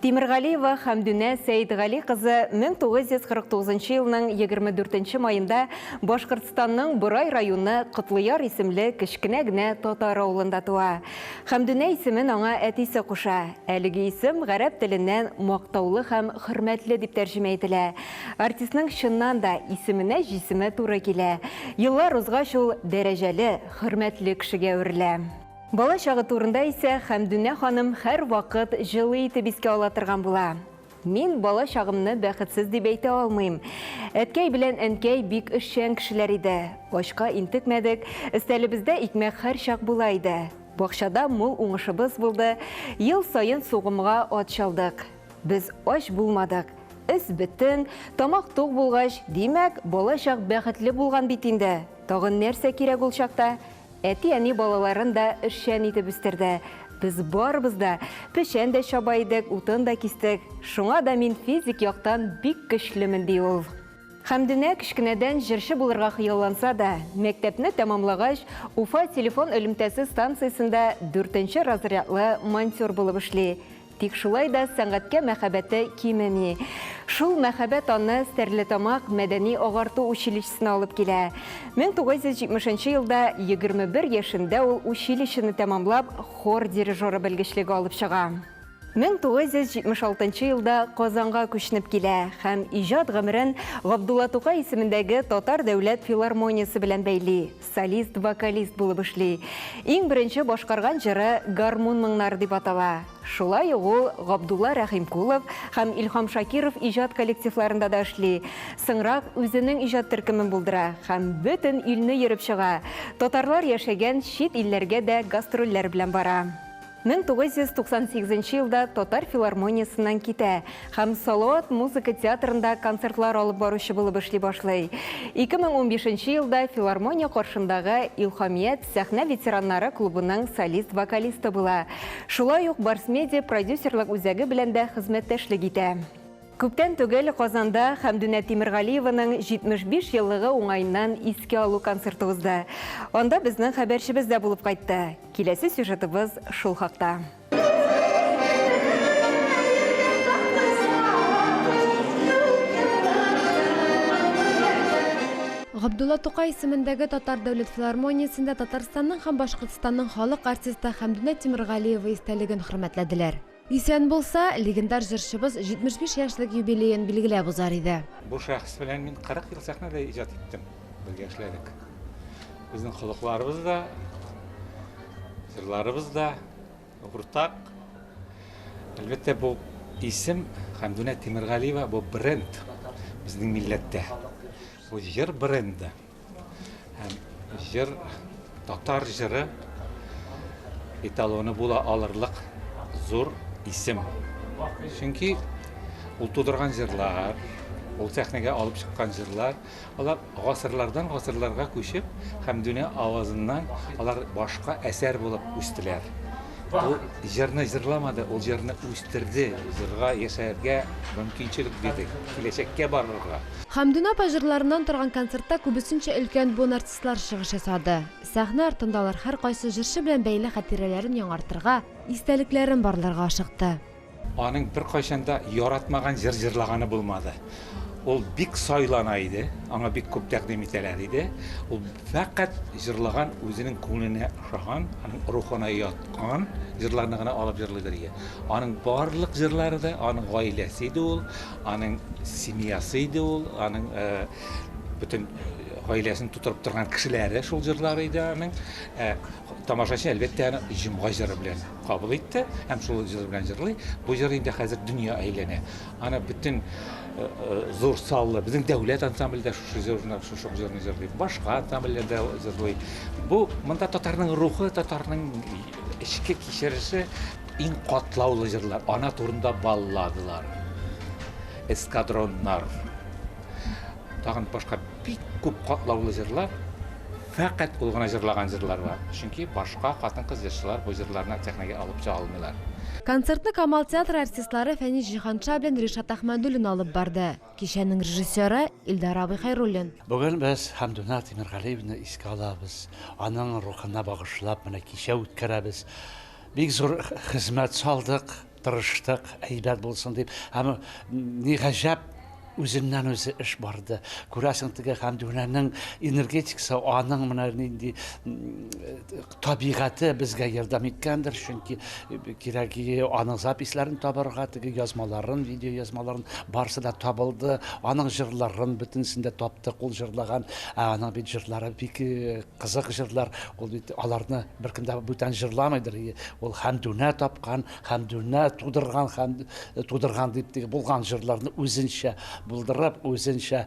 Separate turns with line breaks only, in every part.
Тимергалиева Хәмдүнә Сәетгали кызы 1949 елның 24 маенда Башкортстанның Борай районы Котлыяр исемле кечкенә генә татар авылында туа. Хәмдүнә исемен аңа әтисе куша. Әлеге исем гарәп теленнән Мактаулы һәм хөрмәтле дип тәрҗемә ителә. Артистның чыннан да исеменә җисеме туры килә. Еллар узгач ул дәрәҗәле, хөрмәтле кешегә әверелә. Бала чагы турында исә Хәмдүнә ханым һәрвакыт җылы итеп искә ала торган була. Мин бала чагымны бәхетсез дип әйтә алмыйм. Әткәй белән әнкәй бик эшчән кешеләр иде. Ачка интекмәдек, өстәлебездә икмәк һәрчак була иде. Бакчада мул уңышыбыз булды, ел саен сугымга ат чалдык. Без ач булмадык. Эз бөтен, тамак тук булгач, димәк, бала чак бәхетле булган бит инде. Тагын нәрсә кирәк ул чакта? Әти-әни балаларын да эшчән итеп үстерде. Без барыбыз да печән дә чаба идек, утын да кистек. Шуңа да мин физик яктан бик көчлемен, ди ул. Хәмдүнә кечкенәдән җырчы булырга хыялланса да, мәктәпне тәмамлагач, Уфа телефон элемтәсе станциясендә дүртенче разрядлы монтер булып эшли. Тик шулай да сәнгатькә мәхәббәте кимеми. Шул мәхәббәт аны Стәрлетамак мәдәни-агарту училищесына алып килә. 1970 нчы елда, 21 яшендә ул училищены тәмамлап, хор дирижеры белгечлеге алып чыга. 1976 елда Казанга күченеп килә һәм иҗат гомерен Габдулла Тукай исемендәге Татар дәүләт филармониясе белән бәйли. солист-вокалист булып эшли. Иң беренче башкарган җыры Гармун моңнары дип атала. Шулай ук ул Габдулла Рәхимкулов һәм Илһам Шакиров иҗат коллективларында да эшли. Соңрак үзенең иҗат төркемен булдыра һәм бөтен илне йөреп чыга. Татарлар яшәгән чит илләргә дә гастрольләр белән бара. 1998 нче елда Татар филармониясеннән китә һәм Салават музыка театрында концертлар алып баручы булып эшли башлый. 2015 нче елда филармония каршындагы Илһамият сәхнә ветераннары клубының солист-вокалисты була. Шулай ук Барс-Медиа продюсерлык үзәге белән дә хезмәттәшлек итә. Күптән түгел Казанда Хәмдүнә Тимергалиеваның 75 еллыгы уңаеннан искә алу концерты узды. Анда безнең хәбәрчебез дә булып кайтты. Киләсе сюжетыбыз шул хакта.
Габдулла Тукай исемендәге Татар дәүләт филармониясендә Татарстанның һәм Башкортстанның халык артисты Хәмдүнә Тимергалиева истәлеген хөрмәтләделәр. Исән булса, легендар җырчыбыз 75 яшьлек юбилеен билгеләп узар иде. Бу шәхес белән мин
40 ел сәхнәдә иҗат иттем. Бергә эшләдек. Безнең холыкларыбыз да, җырларыбыз да уртак. Әлбәттә, бу исем Хәмдүнә Тимергалиева бу бренд безнең милләттә. Бу җыр бренды. Һәм җыр, татар җыры эталоны була алырлык зур исем. Чөнки ул тудырган җырлар, ул сәхнәгә алып чыккан җырлар, алар гасырлардан гасырларга күчеп һәм дөнья авазыннан алар башка әсәр булып үстеләр. Ул җырны җырламады, ул җырны үстерде, җырга яшәргә мөмкинчелек бирде, киләчәккә барырга. Хәмдүнә апа
җырларыннан торган концертта күбесенчә өлкән буын артистлары чыгыш ясады. Сәхнә артында алар һәркайсы җырчы белән бәйле хатирәләрен яңартырга, истәлекләрен барларга ашыкты. Аның
беркайчан да яратмаган җыр җырлаганы булмады. Ул бик сайлана иде, аңа бик күп тәкъдим итәләр иде. Ул фәкать җырлаган, үзенең күңеленә ошаган, аның рухына яткан җырларны гына алып җырлыйдыр иде. Аның барлык җырлары да, аның гаиләсе иде ул. Аның семьясы иде ул, аның бөтен гаиләсен тутырып торган кешеләре шул җырлар иде аның. Ә тамашачы әлбәттә аны җомга җыры белән кабул итте һәм шул җыр белән җырлый. Бу җыр инде хәзер дөнья әйләнә. Аны бөтен зур саллы безнең дәүләт ансамбле дә шушы җырны, шушы җырны җырлый. Башка ансамбльләр дә җырлый. Бу монда татарның рухы, татарның Эчке кичереше иң катлаулы җырлар. Ана турында балладылар, эскадроннар. Тагын башка бик күп катлаулы җырлар. Фәкать ул гына җырлаган җырлар бар. Чөнки башка хатын-кыз җырчылар бу җырларны сәхнәгә алып чыга алмыйлар. Концертны Камал
театры артистлары Фәнис Җиһанша белән Ришат Әхмәдуллин алып барды. Кичәнең режиссеры, Илдар абый Хәйруллин. Бүген без
Хәмдүнә Тимергалиевнаны искә алабыз, аның рухына багышлап менә кичә үткәрәбез. Бик зур хезмәт салдык, тырыштык, әйбәт булсын дип. Һәм, ни гаҗәп, үзеннән-үзе эш барды. Күрәсең, теге Хәмдүнәнең энергетикасы, аның менә нинди табигате безгә ярдәм иткәндер, чөнки э, кирәк аның записьләрен табарга, теге язмаларын, видео язмаларын барысы да табылды. Аның җырларын бөтенесен дә таптык, ул җырлаган, ә аның бит җырлары бик э, кызык җырлар. Ул бит аларны беркем дә бүтән җырламыйдыр. Ул Хәмдүнә тапкан, Хәмдүнә тудырган, һәм э, тудырган дип теге булган җырларны үзенчә булдырып, үзенчә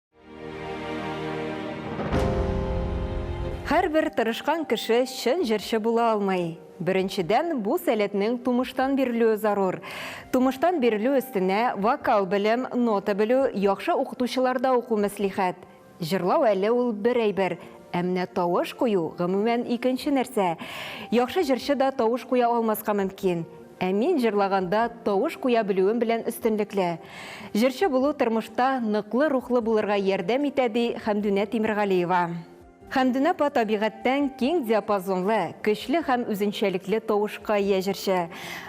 Һәрбер тырышкан кеше чын җырчы була алмый. Беренчедән, бу сәләтнең тумыштан бирелүе зарур. Тумыштан бирелү өстенә вокал белем, нота белү, яхшы укытучыларда уку мәслихәт. Җырлау әле ул бер әйбер, ә менә тавыш кую, гомумән, икенче нәрсә. Яхшы җырчы да тавыш куя алмаска мөмкин. Ә мин җырлаганда тавыш куя белүем белән өстенлекле. Җырчы булу тормышта ныклы рухлы булырга ярдәм итә, ди Хәмдүнә Тимергалиева. Хәмдүнә апа табигатьтән киң диапазонлы, көчле һәм үзенчәлекле тавышка ия җырчы.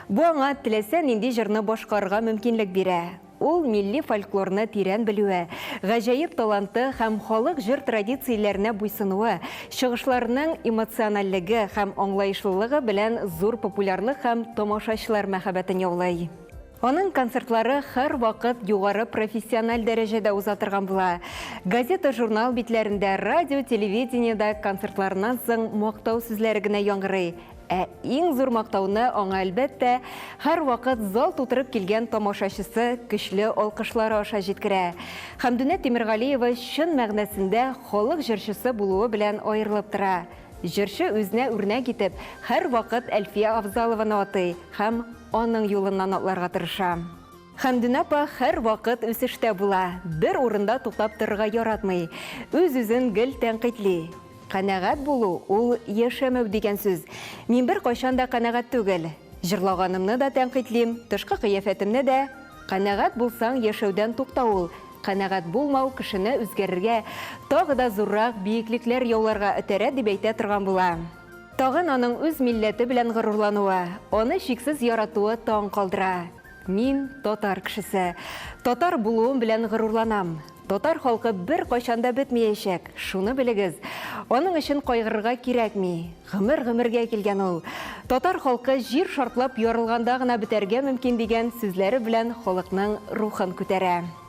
Бу аңа теләсә нинди җырны башкарырга мөмкинлек бирә. Ул милли фольклорны тирән белүе, гаҗәеп таланты һәм халык җыр традицияләренә буйсынуы, чыгышларының эмоциональлеге һәм аңлаешлылыгы белән зур популярлык һәм тамашачылар мәхәббәтен яулый. Аның концертлары һәрвакыт югары профессиональ дәрәҗәдә уза торган була. Газета-журнал битләрендә, радио-телевидениедә концертларыннан соң мактау сүзләре генә яңгырый. Ә иң зур мактауны аңа, әлбәттә, һәрвакыт зал тутырып килгән тамашачысы көчле алкышлары аша җиткерә. Хәмдүнә Тимергалиева чын мәгънәсендә халык җырчысы булуы белән аерылып тора. Җырчы үзенә үрнәк итеп, һәрвакыт Әлфия Авзалованы атый һәм аның юлыннан атларга тырыша. Хәмдүнә апа һәрвакыт үсештә була, бер урында туктап торырга яратмый, үз-үзен гел тәнкыйтьли. Канәгать булу, ул яшәмәү дигән сүз. Мин беркайчан да канәгать түгел. Җырлаганымны да тәнкыйтьлим, тышкы кыяфәтемне дә. Канәгать булсаң, яшәүдән туктау ул. Канәгать булмау кешене үзгәрергә, тагы да зуррак биеклекләр яуларга этәрә, дип әйтә торган була. Тагын аның үз милләте белән горурлануы, аны чиксез яратуы таң калдыра. Мин, татар кешесе. Татар булуым белән горурланам. Татар халкы беркайчан да бетмиячәк, шуны белегез. Аның өчен кайгырырга кирәкми. Гомер-гомергә килгән ул. Татар халкы җир шартлап ярылганда гына бетәргә мөмкин, дигән сүзләре белән халыкның рухын күтәрә.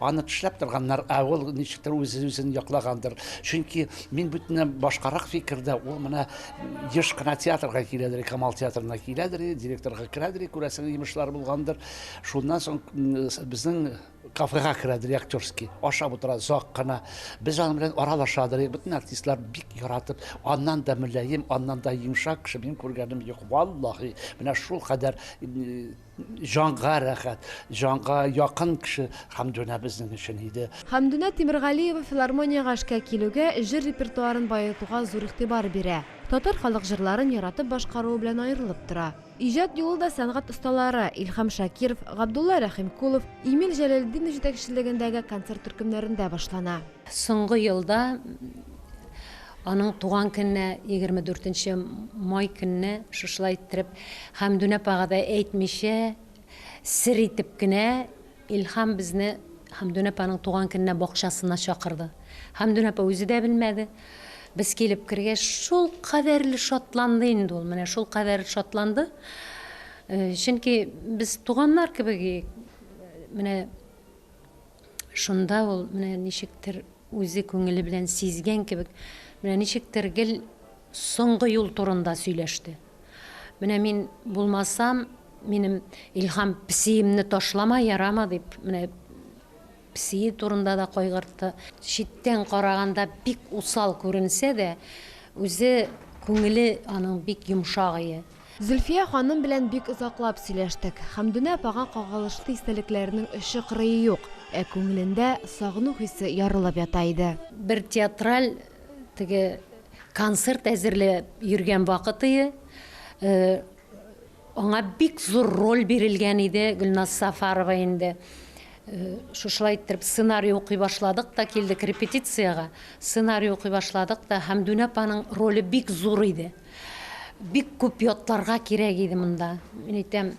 Аны тешләп торганнар, ә ул ничектер үз-үзен яклагандыр. Чөнки мин бүтән башкарак фикердә, ул менә еш кына театрга киләдер, Камал театрына киләдер, директорга керәдер, күрәсең, йомышлар булгандыр. Шуннан соң безнең кафега керәдер актерский, ашап утыра озак кына. Без аның белән аралашадыр, бөтен артистлар бик яратып, аннан да мөлаем, аннан да йомшак кеше мин күргәнем юк, валлаһи. Менә шул кадәр Җанга рәхәт, җанга якын кеше Хәмдүнә безнең өчен иде. Хәмдүнә Тимергалиева
филармониягә эшкә килүгә, җыр репертуарын баетуга зур игътибар бирә. Татар халык җырларын яратып башкаруы белән аерылып тора. Иҗат юлы да сәнгать осталары, Илһам Шакиров, Габдулла Рәхимкулов, Эмиль Җәләлетдинов җитәкчелегендәге концерт төркемнәрендә башлана. Соңгы елда
аның туган көненә, егерме дүртенче май көнне шушылай иттереп, Хәмдүн апага да әйтмичә, сер итеп кенә Илһам безне Хәмдүн апаның туган көненә бакчасына чакырды. Хәмдүн апа үзе дә белмәде. Без килеп кергәч, шул кадәрле шатланды инде ул, менә шул кадәр шатланды. Чөнки без туганнар кебек, менә, Шунда ул, менә ничектер, үзе күңеле белән сизгән кебек, менә ничектер гел соңгы юл турында сөйләште. Менә мин булмасам, минем Илһам песиемне ташлама, ярама, дип, менә песие турында да кайгыртты. Читтән караганда бик усал күренсә дә, үзе күңеле аның бик йомшагые. Зөлфия ханым
белән бик озаклап сөйләштек. Хәмдүнә апага кагылышлы истәлекләренең очы-кырые юк, ә күңелендә сагыну хисе ярылып ята иде. Бер театраль
теге концерт әзерләп йөргән вакытые аңа бик зур роль бирелгән иде, Гөлназ Сафарова инде. Шушылай иттереп сценарий укый башладык та килдек репетициягә. Сценарий укый башладык та, Хәмдүнә апаның роле бик зур иде. Бик күп ятларга кирәк иде монда. Мин әйтәм,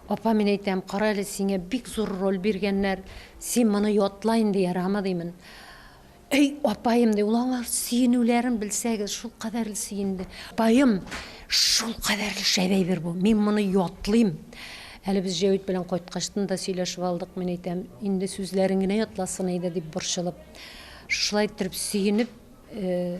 апа, мин әйтәм, кара әле, сиңә бик зур роль биргәннәр, син моны ятла инде, ярамы, димен. Әй, апаем, ди, ул аңар сөенүләрен белсәгез, шул кадәрле сөенде. Апаем, шул кадәрле шәп әйбер бу, мин моны ятлыйм. Әле без Җәвит белән кайткачтын да сөйләшеп алдык, мин әйтәм, инде сүзләрен генә ятласын иде, дип борчылып. Шушылай иттереп сөенеп, э,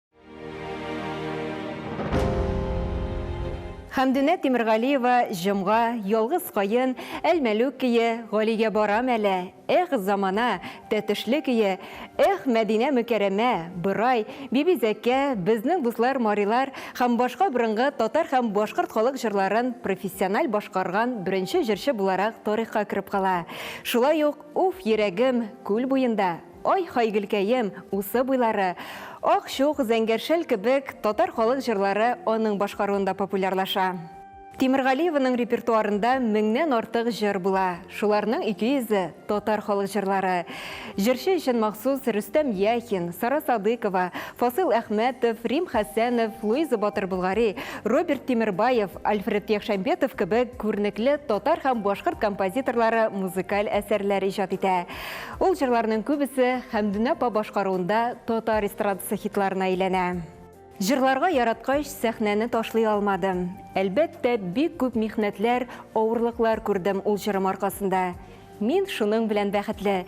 Хәмдүнә Тимергалиева җомга, ялгыз каен, әлмәлүк көе, Галигә барам әле, эх замана, тәтешле көе, эх Мәдинә Мөкәрәмә, Борай, Биби Зәкә, Безнең дуслар марилар һәм башка борынгы татар һәм башкорт халык җырларын профессиональ башкарган беренче җырчы буларак тарихка кереп кала. Шулай ук Уф, йөрәгем, Күл буенда, Ай-һай Гөлкәем, усы буйлары, Ак чук, Зәңгәр шәл кебек татар халык җырлары аның башкаруында популярлаша. Тимергалиеваның репертуарында меңнән артык җыр була, шуларның 200 е, татар халык җырлары. Җырчы өчен махсус Рөстәм Яхин, Сара Садыйкова, Фасыйл Әхмәтов, Рим Хәсәнов, Луиза Батыр Болгари, Роберт Тимербаев, Альфред Яхшәмбетов кебек күренекле татар һәм башкорт композиторлары музыкаль әсәрләр иҗат итә. Ул җырларның күбесе Хәмдүнә апа башкаруында татар эстрадасы хитларына әйләнә. Җырларга яраткач, сәхнәне ташлый алмадым. Әлбәттә, бик күп михнәтләр, авырлыклар күрдем ул җырым аркасында. Мин шуның белән бәхетле.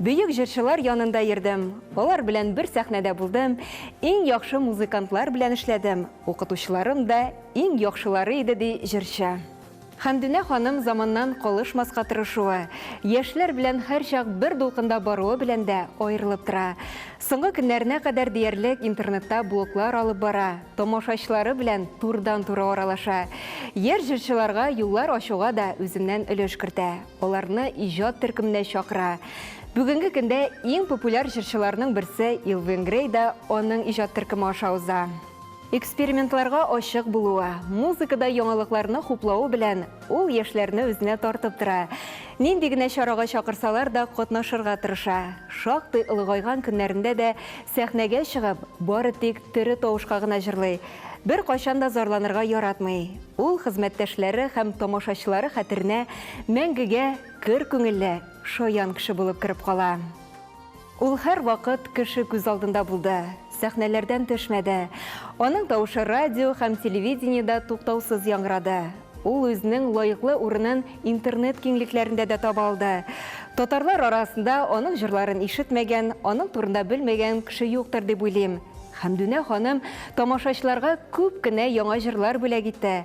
Бөек җырчылар янында йөрдем, алар белән бер сәхнәдә булдым, иң яхшы музыкантлар белән эшләдем, укытучыларым да иң яхшылары иде, ди җырчы. Хәмдүнә ханым заманнан калышмаска тырышуы, яшьләр белән һәрчак бер дулкында баруы белән дә аерылып тора. Соңгы көннәренә кадәр диярлек интернетта блоглар алып бара, тамашачылары белән турыдан-туры аралаша. Яшь җырчыларга юллар ачуга да үзеннән өлеш кертә, аларны иҗат төркеменә чакыра. Бүгенге көндә иң популяр җырчыларның берсе Илвин Грей да аның иҗат төркеме аша уза. Экспериментларга ачык булуы, музыкада яңалыкларны хуплавы белән ул яшьләрне үзенә тартып тора. Нинди генә чарага чакырсалар да, катнашырга тырыша. Шактый олыгайган көннәрендә дә сәхнәгә чыгып, бары тик тере тавышка гына җырлый. Беркайчан да зарланырга яратмый. Ул хезмәттәшләре һәм тамашачылары хәтеренә мәңгегә көр күңелле, шаян кеше булып кереп кала. Ул һәрвакыт кеше күз алдында булды, сәхнәләрдән төшмәде. Аның тавышы радио һәм телевидениедә туктаусыз яңгырады. Ул үзенең лаеклы урынын интернет киңлекләрендә дә таба алды. Татарлар арасында аның җырларын ишетмәгән, аның турында белмәгән кеше юктыр дип уйлыйм. Хәмдүнә ханым тамашачыларга күп кенә яңа җырлар бүләк итте,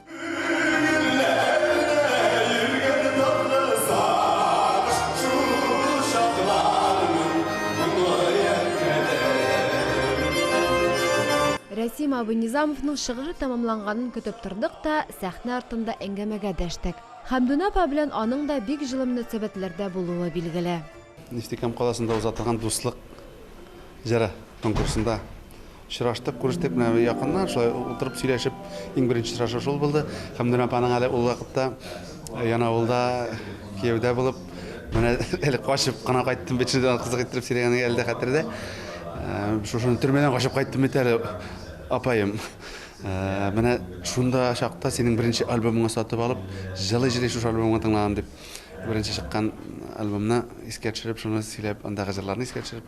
Рәсим абый Низамовның шыгыры тәмамланганын көтеп тордык та, сәхнә артында әңгәмәгә дәштек. Хәмдүнә апа белән аның да бик җылы мөнәсәбәтләрдә булуы билгеле. Нефтекам
каласында уза торган Дуслык җыры конкурсында Очраштык, күрештек менә якыннан, шулай утырып сөйләшеп, иң беренче очрашу шул булды. Хәмдүнә апаның әле ул вакытта Янаулда кияүдә булып, менә әле качып кына кайттым бит, шундый кызык иттереп сөйләгәнең әле дә хәтердә. Шушыны төрмәдән качып кайттым бит әле, апаем. Менә шунда чакта синең беренче альбомыңны сатып алып, җылый-җылый шушы альбомыңны тыңладым, дип, беренче чыккан альбомны искә төшереп, шуны сөйләп, андагы җырларны искә төшереп,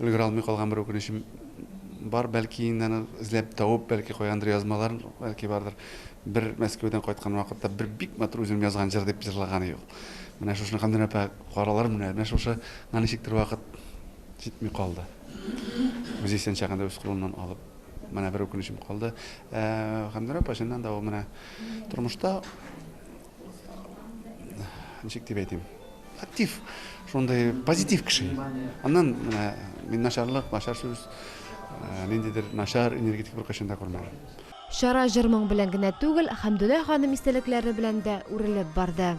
Өлгерә алмый калган бер үкенечем бар, бәлки инде аны эзләп табып, бәлки кайгандыр язмалар, бәлки бардыр. Бер Мәскәүдән кайткан вакытта бер бик матур үзем язган җыр дип җырлаган иде ул. Менә шушны Гамдүнә апа каралар менә, менә шушы на ничектер вакыт җитми калды. Үзе исән чагында үз кулыннан алып менә бер үкенечем калды. Гамдүнә апа чыннан да ул менә тормышта ничек дип әйтим актив шундай позитив кеше аннан менә мин начарлык начар сүз ниндидер начар энергетик бер кайчан да күрмәдем Чара җыр
моң белән генә түгел, Хәмдүлә ханым истәлекләре белән дә үрелеп барды.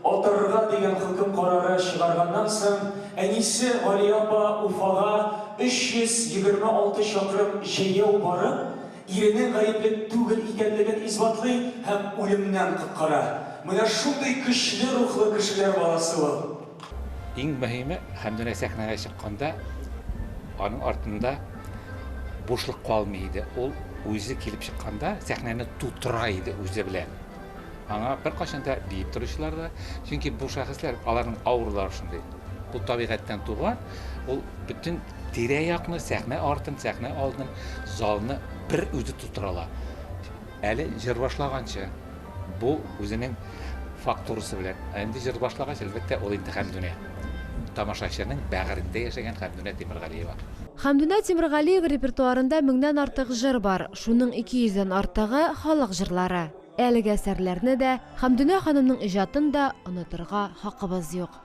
Атырырга
дигән хөкем карары чыгарганнан соң, әнисе Галия апа Уфага 326 чакрым җәяү барып, иренең гаепле түгел икәнлеген исбатлый һәм үлемнән коткара. Менә шундый көчле рухлы кешеләр баласы ул. Иң мөһиме,
Хәмдүнә сәхнәгә чыкканда, аның артында бушлык калмый иде. Ул үзе килеп чыкканда, сәхнәне тутыра иде үзе белән. Аңа беркайчан да биеп торучылар да, чөнки бу шәхесләр, аларның ауралары шундый. Бу табигатьтән туган, ул бөтен Тирә-якны, сәхнә артын, сәхнә алдын, залны бер үзе тутыра ала. Әле җыр башлаганчы, бу үзенең фактурасы белән, ә инде җыр башлагач, әлбәттә, ул инде Хәмдүнә. Тамашачының бәгырендә яшәгән Хәмдүнә Тимергалиева. Хәмдүнә
Тимергалиева репертуарында меңнән артык җыр бар, шуның ике йөздән артыгы, халык җырлары. Әлеге әсәрләрне дә, Хәмдүнә ханымның иҗатын да онытырга хакыбыз юк.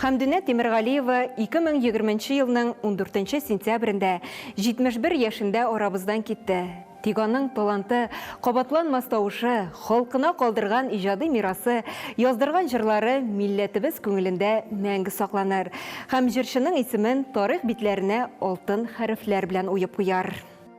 Хәмдүнә Тимергалиева 2020 елның 14 сентябрендә 71 яшендә арабыздан китте. Тик аның таланты, кабатланмас тавышы, халкына калдырган иҗади мирасы, яздырган җырлары милләтебез күңелендә мәңге сакланыр һәм җырчының исемен тарих битләренә алтын хәрефләр белән уеп куяр.